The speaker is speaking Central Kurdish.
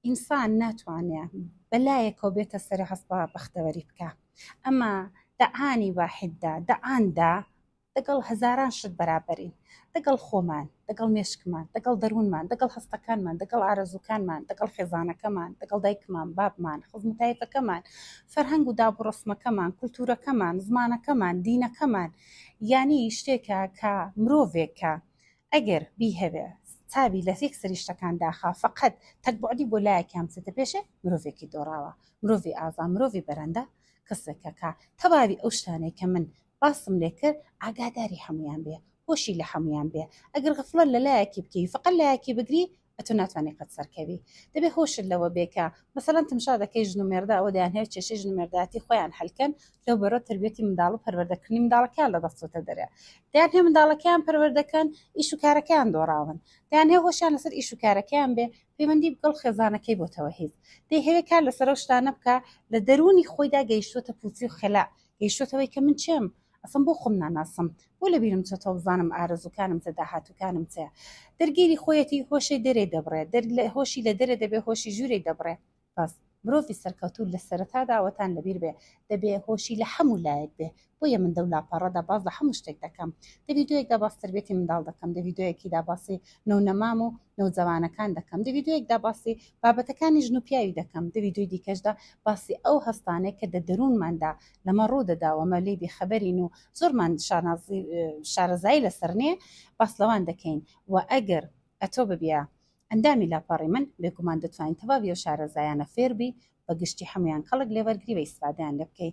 ئینسان ناتوانێ بە لایەکەوە بێتە سەر هەست بە بەختەوەری بکە ئەمە دەعانی واحددا دەعاندا دەگەڵ هەزاران شت بەرابەرین دەگەڵ خۆمان دەگەڵ مێشکمان دەگەڵ دەروونمان دەگەڵ هەستەکانمان دەگەڵ ئارەزووکانمان دەگەڵ خێزانەکەمان دەگەڵ دایکمان بابمان خزمتایەکەکەمان فەرهەنگ و داب و ڕسمەکەمان کولتورەکەمان زمانەکەمان دینەکەمان یانی شتێکە کە مرۆڤێکە ئەگەر بیهەوێ چاوی لە یەک سەری شتەکان داخا فەقەت تەک بوعدی بۆ لایەکیان بچێتە پێشێ مرۆڤێکی دۆڕاوە مرۆڤی ئازا مرۆڤی بەرەندە کەسێکە کە تەواوی ئەو شتانەی کە من باسم لێ کرد ئاگاداری هەموویان بێ هۆشی لە هەموویان بێ ئەگەر غەفڵەت لە لایەکی بکەی فەقەت لایەکی بگری ئەتۆ ناتوانانی قەت سەرکەوی دەبێ هۆشت لەوە بێ کە مەسەلەن تمشا دەکەی ژن و مێردە ئەوە دەیان هەیە کێشەی ژن و مێردایەتی خۆیان حلکەن لەو بەرەو تربیەتی منداڵ و پەروەردەکردنی منداڵەکەیان لە دەستچۆتە دەرێ دەیان هەیە منداڵەکەیان پەروەردەکەن ئیش و کارەکەیان دۆڕاون دەیان هەیە هۆشیان لەسەر ئیش و کارەکەیان بێ پەیوەندی بگەڵ خێزانەکەی بۆتەوە هیچ دەیهەوێ کار لەسەر ئەو شتانە بکە لە دەروونی خۆیدا گەیشتوتە پوچی و خەلا گەیشتوتەوەی کە من چێم ئەسڵەن بۆ خۆم ناناسم بۆ لە بیرم چۆتەوە بزانم ئارەزووکانم چە داهاتووکانم چەیە دەرگیری خۆیەتی هۆشەی دەرێ دەبڕێ دەر لە هۆشی لە دەرێ دەبێ هۆشی ژوورێ دەبڕێ بەس مرۆڤی سەرکەوتوو لە سەرەتا داوەتان لەبیر بێ دەبێ هۆشی لە هەموو لایەک بێ بۆیە من دەو لاپەڕەدا باز لە هەموو شتێک دەکەم دە ڤیدیۆیەکدا باس تربێتی منداڵ دەکەم دە ڤیدیۆیەکیدا باسی نەونەمام و نەوجەوانەکان دەکەم دە ڤیدیۆیەکدا باسی بابەتەکانی ژن و پیاوی دەکەم دە ڤیدیۆی دیکەشدا باسی ئەو هەستانێک کە دە دەروونماندا لەمە ڕوو دەدا وەمە لێی بێخەبەرین و زۆرمان شانازی شارەزایی لەسەر نێ باس لەوان دەکەین و ئەگەر ئەتۆ ببیە ئەندامی لاپەڕی من بێگومان دەتوانین تەواوی ئەو شارەزایانە فێر بی بە گشتی حەمویان کەڵک لێ وەرگری و ئیسفادەیان لێ بکەی